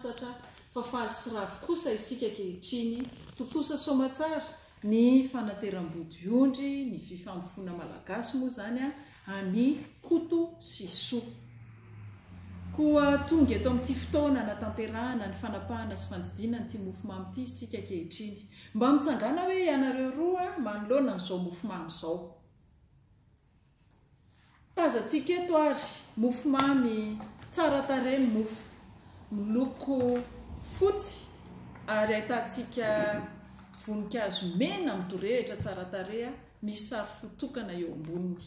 sasatra fa faly sy ravo kosa isika ankehitriny, tontosa soamatsara. Ny fanateram-bodiondry ny fifampifoana malagasy moa izany an'i Koto sy Soa. Koa tonga eto amin'ity fotoana hanatanterahana ny fanapahana sy fandidiana an'ity mofomamy ity isika ankehitriny. Mba mitsangàna hoe ianareo roa manoloana an'izao mofomamy izao. Tazantsika eto ary mofo mamy tsara tarehy ny mofo, miloko fotsy ary ahitantsika voninkazo mena midorehitra tsara tarehy misy sary fo tokana eo amboniny.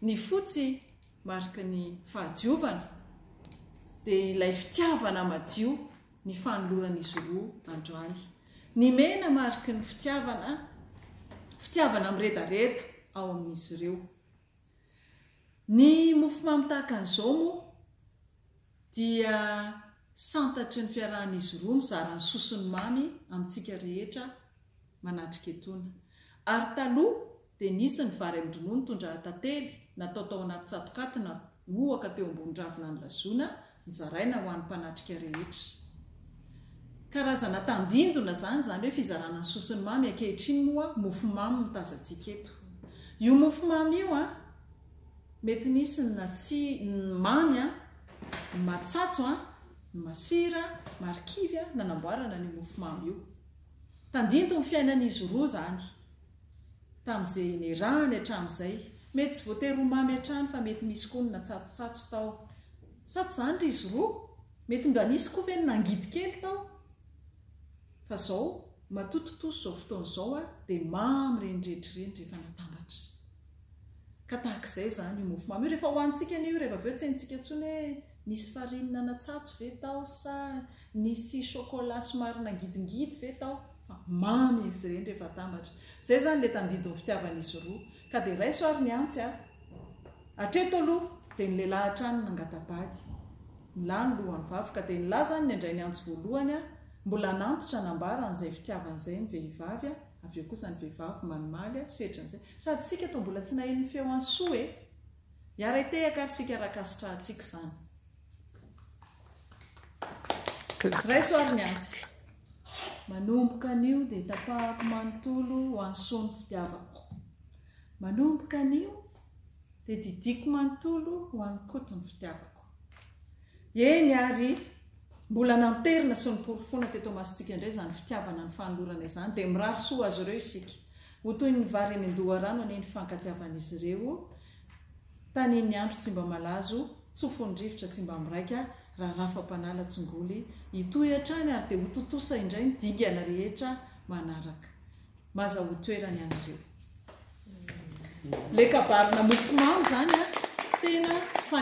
Ny fotsy mariky ny fahadiovana dia ilay fitiavana madio. ny fanoloran'izy roa androany. Ny mena mariky ny fitiavana, fitiavana miredareda ao amin'izy ireo. Ny mofomamy tahaka an'izao moa dia santatry ny fiarahan'izy roa mizara ny sosony mamy amintsika rehetra manatrika etona. Ary taloha dia nisy ny vary amin-dronono tondraha tantely natao tao anaty tsatokaty namohaka teo ambony ravina nilazona nizaraina ho an'ny mpanatrika rehetra. Karazana tandindona izany izany hoe fizarana ny sosiny mamy, ankehitriny moa mofo mamy no tazantsika eto. Io mofo mamy io an! mety nisy ny natsi, ny mamy an! ny matsatso an! ny masira, marikivy an! nanamboarana an'io mofo mamy io. Tandindon'ny fiainan'izy roa izany. tamin'izay niarahany hatramin'izay. Mety tsy voatery ho mamy hatrany fa mety misy koa ny natsatotsatso tao. Sa tsy izany ry izy roa? Mety mba nisy koa ve ny nangidy kely tao? Fa izao, matoa tontosa izao fotoana izao ary dia mamy ireny rehetra ireny rehefa natambatra. Ka tahaka izay izany io mofomamy io. Rehefa hohanintsika anie io, rehefa avy eo tsy haintsika intsony hoe nisy farine nanatsatso ve tao sa nisy chocolat somary nangidingidy ve tao, fa mamy izy ireny rehefa atambatra. Izay izany ilay tandindon'ny fitiavan'izy roa. Ka dia raiso ary ny antsy a! Hatreto aloha dia ny lehilahy hatrany nangata-bady. Nilà ny lohan'ny vavy. Ka dia nilà izany ny handray ny antsy voalohany a! Mbola nantitra, nambarany izay fitiavany izay ny vehivavy a! Avy eo kosa ny vehivavy manimaly a! Setra an'izay. Sady sika toa mbola tsy naheno ny feo an'i Soa e! Hiara-hitehaka ary sika raha kasitrahantsika izany. Raiso ary ny antsy. Manomboka anio dia tapahako manontolo ho an'i Soa ny fitiavako. Manomboka anio dia didiako manontolo ho an'i Koto ny fitiavako. Eny ary mbola namperina sy noporofoina teto imasontsika indray izany fitiavana nifanolorana izany dia mirary soa ho azy ireo isika. Ho toy ny vary eny an-doharano anie ny fankatiavan'izy ireo, tanin'ny andro tsy mba malazo, tsofin'ny rivotra tsy mba miraika, raha rafam-panala tsy ngoly, hitohy hatrany ary dia ho tontosa indray ny dingana rehetra manaraka. Maza ho toerany ianareo. Ilay kabarina mofomamy izany an, tena.